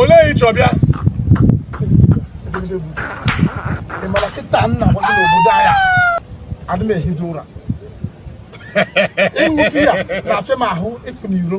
olee ị chọ bịa ị mara kịta na kwado n'obodo anyị a adị m ehizi ụra ịṅụ biya na-afịa m ahụ ịpụ n'iro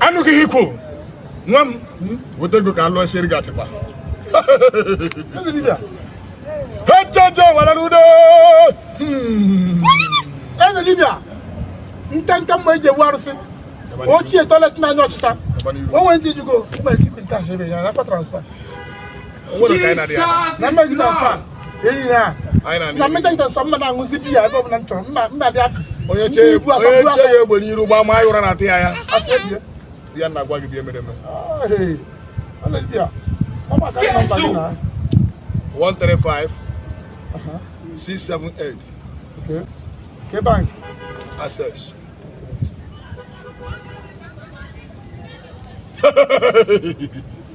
anụghị ihe i kwu nwa m weta ego ka alụọ siere gị atịkpa echeche were n'udo hmm. eze dibịa nka nka mma eji ewu arụsị ochie toilet n'anya ọchịcha o nwere ntị jugo mgbe ntikwu cash ebe a na-akpa transfer onye chee ya egbe n'iru gbaa ma ya ụra na ntị ya ya ya nna gwa gị bịa mere mere 135 678 okay. kee bank access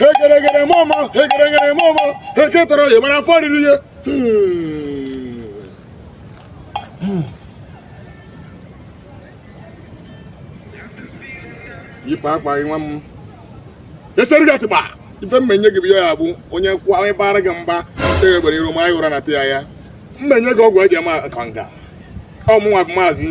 hegeregere mama hegeregere mama heketara ya mana afọ riri ya yipụ akwa gị nwa m esiere gị atịkpa ife mmenye gị bụ ya ya bụ onye kwụọ onye bara gị mgba chee gị egbe n'iru ma ya ụra na ntị ya ya mmenye gị ọgwụ eji ama kanga ọ mụnwa bụ maazị